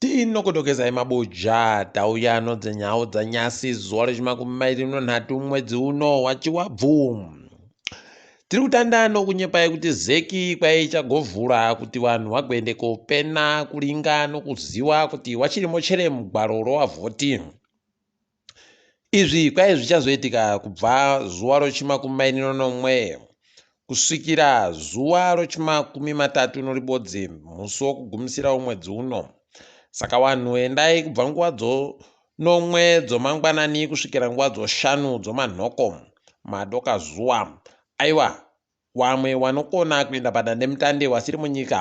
tinokutokezai mabuja tauya no dzenhau dzanyasi zuva rechimakumi mairi nonhatu mwedzi uno wachiwabvu tiri kutanda nokunyepai kuti zeki kwaichagovhura kuti vanhu vagoende kopena kuringa nokuziva kuti wachirimo chere mugwaro rowavhoti Izvi kwaive zvichazoitika kubva zuva rochimakumi mairi nonomwe kusvikira zuva rochimakumi matatu noribodzi musi wokugumisira womwedzi uno. Saka wanhu endai kubva nguva dzo nomwe dzomangwanani kusvikira nguva dzoshanu dzomanhoko madoka zuva. Aiwa, wamwe wanokona kuenda padandemutande wasiri munyika.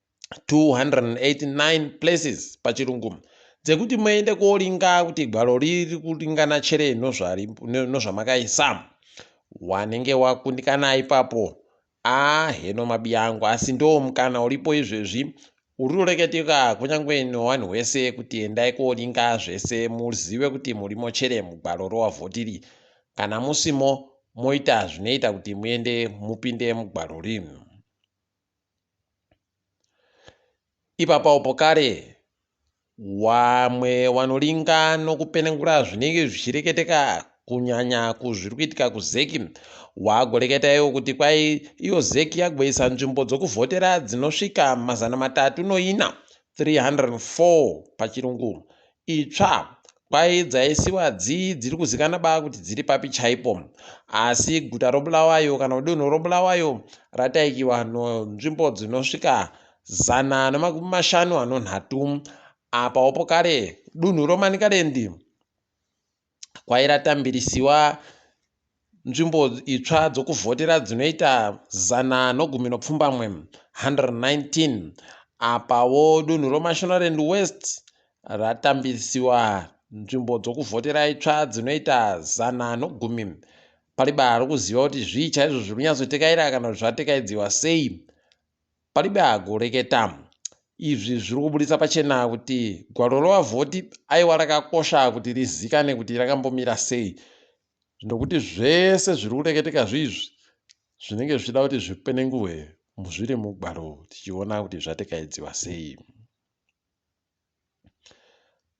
289 places pachirungu dzekuti muende koringa kuti gwaro riri kuringana chere nozvamakaisa wanenge wakundikana ipapo a heno mabiyangu asi ndo mukana uripo izvezvi uri kureketeka kunyange nowani wese kuti endai koringa zvese muzive kuti murimo chere mugwaro rowavhotiri kana musimo moita zvinoita kuti muende mupinde mugwaro rino ipapaopo kare wamwe wanolinga nokupenengura zvinenge zvichireketeka kunyanya kuzviri kuitika kuzeki wagoreketa iwo kuti kwai iyo zeki yagoisa nzvimbo dzokuvhotera dzinosvika mazana matatu noina 304 pachirungu itsva kwaye dzaisiwa dzii dziri kuzikana baa kuti dziri papi chaipo asi guta robulawayo kana kudunhu robulawayo rataikiwa nzvimbo dzinosvika zana nemakumi mashanu anonhatu apaopo kare dunhu romanikalendi kwairatambirisiwa nzvimbo itsva dzokuvhotera dzinoita zana nogumi nopfumbamwe 119 apawo dunhu romashonaland west ratambirisiwa nzvimbo dzokuvhotera itsva dzinoita zana nogumi pariba rokuziva kuti zvii chaizvo zviri kunyatsotekaira kana kuti zvatekaidziwa sei Palibe agoreketa. Izvi zviri kubuditsa pachena kuti gwaro revavhoti aiwa rakakosha kuti rizikane kuti rakambomira sei nokuti zvese zviri kureketeka zviizvi zvinenge zvichida kuti zvipenenguhwe muzviri mugwaro tichiona kuti zvatekaidziwa sei.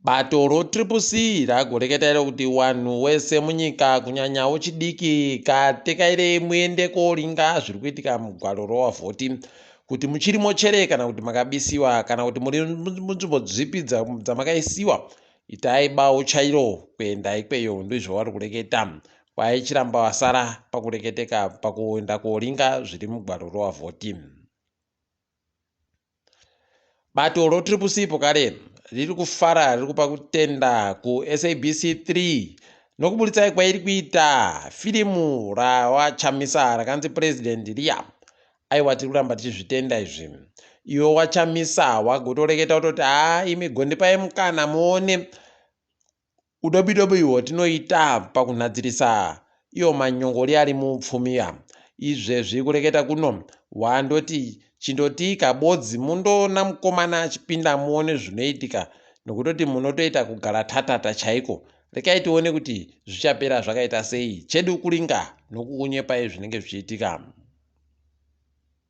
Bato roTriple C ragoreketa iro kuti wanhu wese munyika kunyanya wochidiki katekairei muende koringa zviri kuitika mugwaro rowavhoti kuti muchiri mochere kana kuti makabisiwa kana kuti muri munzvimbo dzipi dzamakaisiwa itai bawo chairo kuenda ikweyo ndizvo vari kureketa kwai chiramba vasara pakureketeka pakuenda koringa zviri mugwaro rowavhoti bato rotriple c pokare riri kufara riri kupa kutenda kusabc 3 nokuburitsai kwairi kuita firimu rawachamisa rakanzi president riya aiwa tiri kuramba tichizvitenda izvi iwe wachamisa wagotoreketa kutoti haa imi gondipai mukana muone Udobidobi uhwo tinoita pakunhadzirisa iwo manyongori ari muupfumi ya izvezvi kureketa kuno wandoti chindotiika bodzi mundoona mukomana achipinda muone zvinoitika nokutoti munotoita kugara tatata chaiko rekai tione kuti zvichapera zvakaita sei chedu kuringa nokukunyepai zvinenge zvichiitika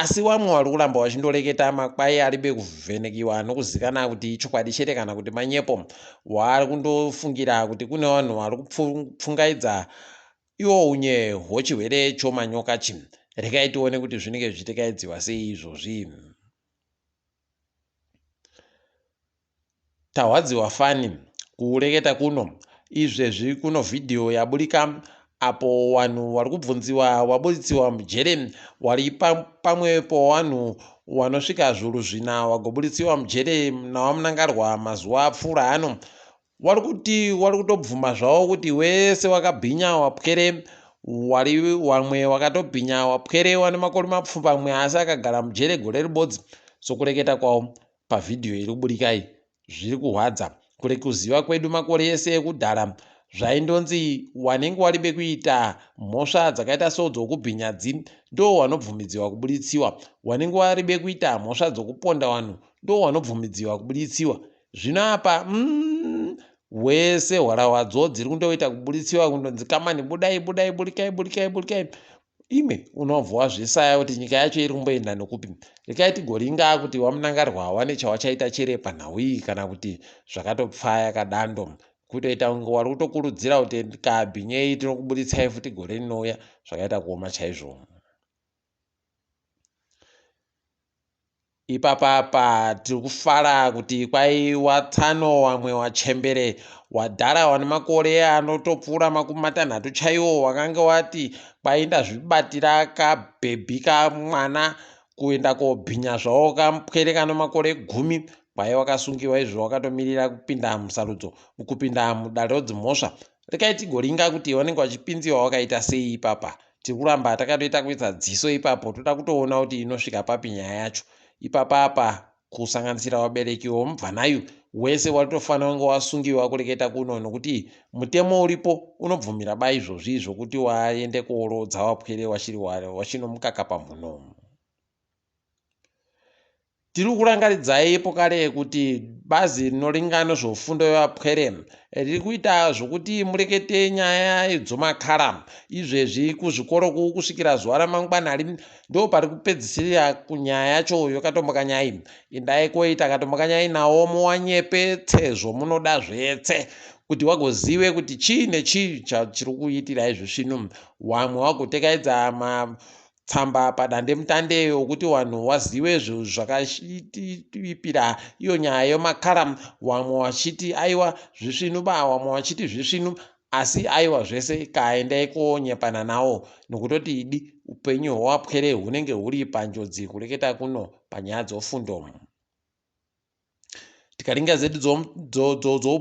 Asi wamwe wari kuramba wachindoreketa makwai aribe kuvhenekiwa anokuzikana kuti ichokwadi chete kana kuti manyepo waari kundofungira kuti kune vanhu vari kupfungaidza iwo unye hwochihwere chomanyoka chi regai tione kuti zvinenge zvichitekaidziwa sei izvozvi Tarwadziwa fani kuureketa kuno izvezvi kuno video yaburika apo wanhu warikubvunziwa waburitsiwa mujere wari pamwe powanhu wanosvika zvuru zvina wagoburitsiwa mujere nawamunangarwa mazuwa apfuura ano wari kuti wari kutobvuma zvawo kuti wese wakabhinya wapwere wari wamwe wakatobhinya wapwere wane makore mapfumbamwe asi akagara mujere gore ribodzi sokureketa kwawo Pavhidhiyo iri kuburikai zviri kuhwadza kure kuziva kwedu makore ese ekudhara zvaindonzi wanenge waribe kuita mhosva dzakaita sodzo kubhinyadzi ndo wanobvumidziwa kubuditsiwa wanenge waribe kuita mhosva dzokuponda wanhu ndo wanobvumidziwa kubuditsiwa zvino apa mm, wese hwarahwa dzodzi riri kundoita kubuditsiwa kundonzi kamani budai budai burikai burikai burikai Imwe unobva wazvisaya kuti nyika yacho iri kumboenda nokupi. Rekai tigoringa kuti wamunangarwa hawane chawachaita chere panhau iyi kana kuti zvakatopfaya kadando. Kutoita kunge wari kutokurudzira kuti kabhinyei tinokubuditsai futi gore rinouya zvakaita kuoma chaizvo. Ipapa apa tiri kufara kuti kwai watsano wamwe wachembere wadhara wane makore anotopfuura makumi matanhatu chaiwo wakange wati kwai ndazvibatira kabhebhi kamwana kuenda kobhinya zvawo kampwere kano makore gumi kwai wakasungiwa izvo wakatomirira kupinda musarudzo kupinda mudare rodzimhosva rekai tigoringa kuti vanenge vachipinziwa wakaita sei ipapa tiri kuramba takatoita kuisa dziso ipapo toda kutoona kuti inosvika papi nyaya yacho ipapa apa kusanganisira vabereki vomubvanayu wese watofanira kunge wasungiwa kureketa kuno nokuti mutemo uripo unobvumira ba izvozvi zvokuti waende kuorodza wapwere wachiri wachino mukaka pamhuno Tiri kurangaridzayipo kare kuti bazi rinoringa nezvefundo yevapwere riri kuita zvokuti murekete nyaya dzomakara izvezvi kuzvikoro kuku kusvikira zuva ramangwana ri ndo pari kupedzisira kunyaya yacho yokatombokanyayi indai koi takatombokanyayi nawo muwanyepe tsezvo munoda zvetse kuti wagozive kuti chii nechii chachiri kuitirai zvisvinu wamwe wagotekaidza ma tsamba padandemutande yokuti vanhu vazive zvakashitipira iyo nyaya yomakara vamwe vachiti aiwa zvisvinu ba vamwe vachiti zvisvinu asi aiwa zvese kaendai konyepana nawo nokutoti idi upenyu hwewapwere hunenge huri panjodzi kureketa kuno panyaya dzofundo tikaringa zedi dzoupfumi dzo, dzo, dzo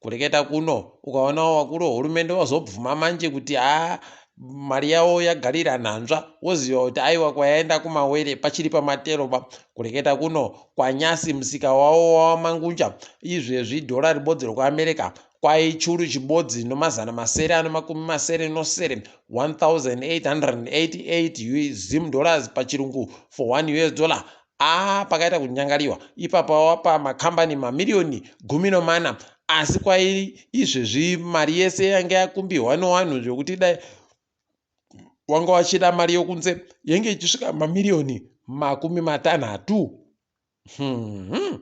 kureketa kuno ukaonawo vakuru vehurumende vazobvuma manje kuti haa mari yavo yagarira nhanzva woziva kuti aiwa kwayaenda kumawere pachiri pamateroba kureketa kuno kwanyasi musika wavo wawamangunja izvezvi dhora ribodzi rekuamerica kwaichuru chibodzi nomazana masere anomakumi masere nosere 1888 zim dollars pachirungu for 1 us dollar Haa pakaita kunyangariwa ipapa wapa makambani mamiriyoni gumi nomana asi kwairi izvezvi mari yese yange yakumbihwa nowanhu zvekuti dai wanga wachida mari yokunze yenge ichisvika mamiriyoni makumi matanhatu hmm.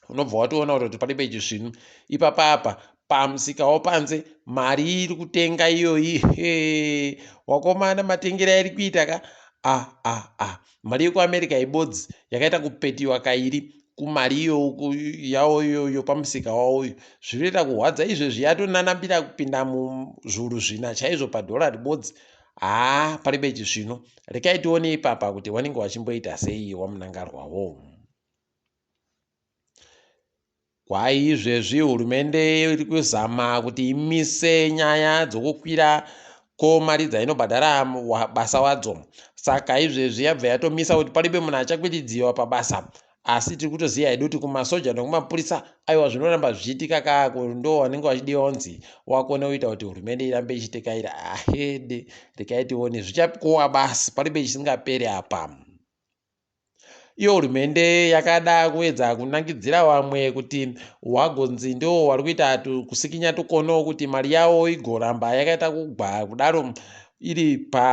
unobva watoona kuti pane peji svinu ipapapa pamusikawo panze mari iri kutenga iyoyi he wakomana matengero airi kuita ka a ah, a ah, a ah. mari yekuamerica ibodzi yakaita kupetiwa kairi kumari iyoku yawo iyoyo pamusika wawoyo zvinoita kuhwadza izvezvi yatonanambira kupinda muzvuru zvina chaizvo padhora ribodzi haa pari beji zvino rekai tione ipapa kuti vanenge vachimboita sei wamunangarwawo Kwaizvezvi hurumende iri kuzama kuti imise nyaya dzokukwira kwemari dzainobhadhara basa wadzo. Saka izvezvi yabva yatomisa kuti paribe munhu achakwiridziwa pabasa. Asi tiri kutoziva hedu kuti kumasoja nekumapurisa aiwa zvinoramba zvichiitika kaa ndo vanenge vachidiwa kunzi wakone kuita kuti hurumende irambe ichitekaira ahede rekaitione zvichapikowa basi paribe chisingaperi apa. Iyo hurumende yakada kuedza kunangidzira vamwe kuti wagonzi ndiwo wari kuita kusikinya tukono kuti mari yawo igoramba yakaita kugwa kudaro iri pa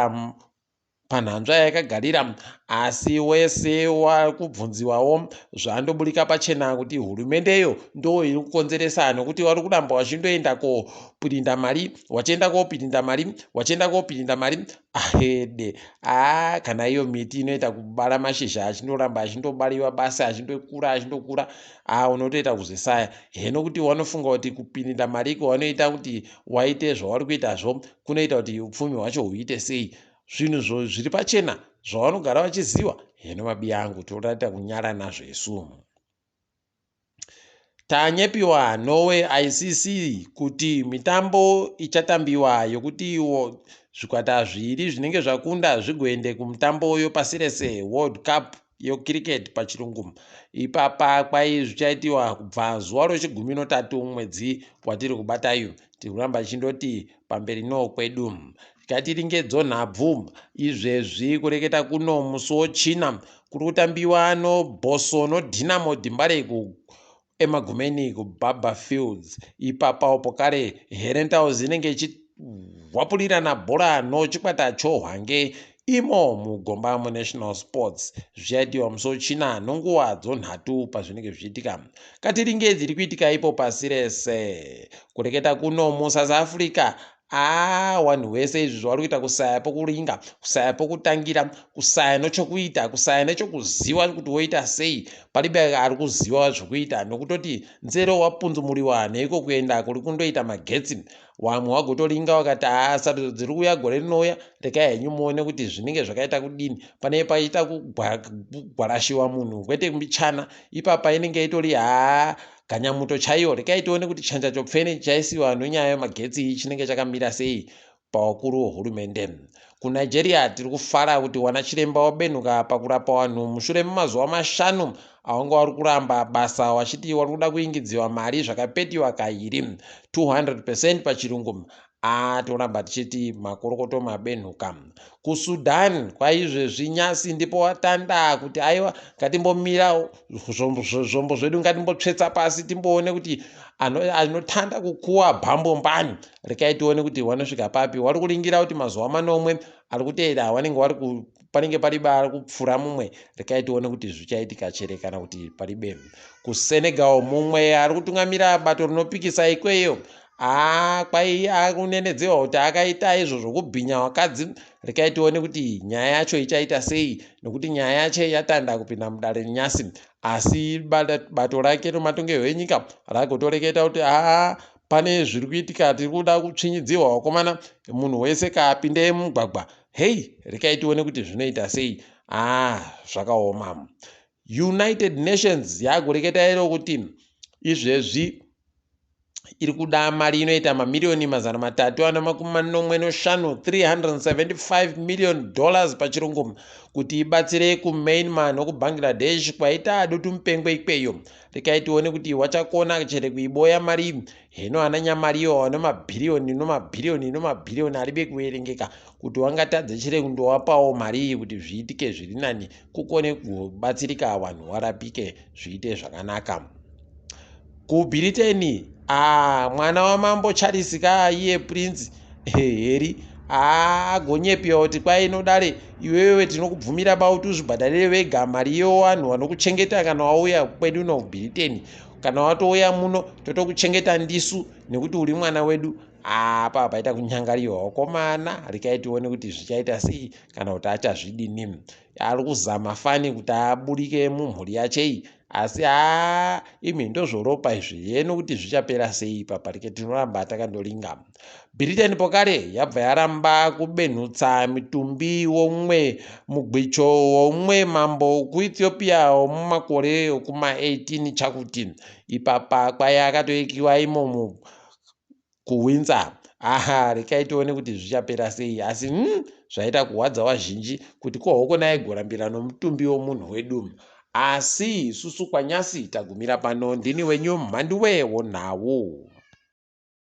panhanzva yayakagarira asi wese wakubvunziwawo zvandoburika pachena kuti hurumendeyo ndo iri kukonzeresa nokuti wari kuramba wachindoenda kopirinda mari wachienda kopirinda mari wachienda kopirinda mari Ahede. Ah, kana iyo miti inoita kubara mashizha achindoramba achindobariwa basi achindokura achindokura. Ah, unotoita kuzvisaya. Heno kuti wanofunga kuti kupinda mariko wanoita kuti waite zvauri kuita zvo kunoita kuti upfumi hwacho huite sei? Zvinhu zvo zviri pachena zvawanogara vachiziwa. Heno mabiya angu toraita kunyara nazvo isu. Tanyepiwa Norway ICC kuti mitambo ichatambiwa yokuti zvikwata zviviri zvinenge zvakunda zvigoende kumutambo yopasi rese World Cup yoCricket pachirungu. Ipapa kwai zvichaitiwa kubva zuva rochigumi notatu mwedzi watiri kubata uyu. tiri kuramba tichindoti pamberi no kwedu tikatiri ngedzonhabvu izvezvi kureketa kuno musi wochina kuri kutambiwa no boso no dinamo dimbare ku emagumeni kubaba fields ipapa upo kare herentals inenge ichihwapurirana bhora no chikwata chohwange Imo muGombamo National Sports zvichaitirwa musi weChina nonguva dzonhatu pazvinenge zvichiitika. Katiringe dziri kuitika ipo pasi rese. Kureketa kuno muSouth Africa aa wanhu wese izvi zvavari kuita kusaya pokuringa kusaya pokutangira kusaya nochokuita kusaya nechokuziva kuti woita sei palibe ari kuziva zvokuita nokutoti nzero wapunzumuriwa neiko kuenda kuri kundoita magetsi Wamwe wagotolinga wakati haa sarudzo dziri kuuya gore rinouya rekai henyu muone kuti zvinenge zvakaita kudini pane paita kugwarashiwa munhu kwete mbichana ipapa inenge itori haa ganyamuto chaiyo rekai tione kuti chanja chopfeni chaisiwa nenyaya yemagetsi chinenge chakamira sei pavakuru vehurumende KuNigeria, tiri kufara kuti wanachiremba wabenhuka pakurapa wanhu mushure memazuva mashanu awanga wari kuramba basa wachiti wari kuda kuingidziwa mari zvakapetiwa kairi 200 percent pachirungu aa toramba tichiti makorokoto mabenhuka kusudan kwaizvezvi nyasi ndipo watanda kuti aiwa ngatimbomira zvombo zvedu ngatimbotsvetsa pasi timboone kuti anotanda kukuwa bhambo mbani rekai tione kuti hwanosvika papi hwari kuringira kuti mazuva manomwe ari kuteera hwanenge wari panenge pari bari kupfura mumwe rekai tione kuti zvichaitika chere kana kuti pari be kusenegal mumwe ari kutungamira bato rinopikisa ikweyo aa kwai akunenedzewa kuti akaita izvo zvokubhinya wakadzi rekai tione kuti nyaya yacho ichaita sei nekuti nyaya yacho yatanda kupinda mudare renyasi asi bato rake rematongerwo enyika ragotoreketa kuti aa pane zviri kuitika tiri kuda kutsvinyidzirwa vakomana munhu wese kaapinde mugwagwa hei rekai tione kuti zvinoita sei ah zvakaoma united nations yaakureketa iro kuti izvezvi iri kuda mari inoita mamiriyoni mazana matatu ana makumi manomwe noshanu 375 million dollars pachirungu kuti ibatsire kumainmar nokubangladesh kwaita adutu mupengwe ikweyo rekai tione kuti wachakona chere kuiboya mari heno ana nyamariyo wane mabhiriyoni nomabhiriyoni nomabhiriyoni aribe kuverengeka kuti wangatadze chere kundowapawo mari iyi kuti zviitike zviri nani kukone kubatsirika vanhu warapike zviite zvakanaka kubhiriteni a ah, mwana wamambo charles ka iye prince heri aa gonyepiwa kuti kwai inodare iwewe tinokubvumira bauti uzvibhadharire vega mari yewanhu vanokuchengeta kana wauya kwedu uno britain kana watouya muno totokuchengeta ndisu nekuti uri mwana wedu apa paita kunyangariwa wakomana rikai tione kuti zvichaita sei kana kuti achazvidini ari kuzama fani kuti aburike mumhuri yachei asi haa imi ndozvoropa izvi yeno kuti zvichapera sei ipapa rike tinoramba takandoringa britain pokare yabva yaramba kubenhutsa mitumbi womumwe mugwicho womumwe mambo kuethiopia womumakore okuma 18 chakuti ipapa kwaye akatoikiwa imomo kuhwinza aha rekai tione kuti zvichapera sei asi mm, zvaita kuhwadza wazhinji kuti ko hokona aigorambira nomutumbi womunhu wedu asi isusu kwanyasi tagumira pano ndini wenyu mhanduwe wonhau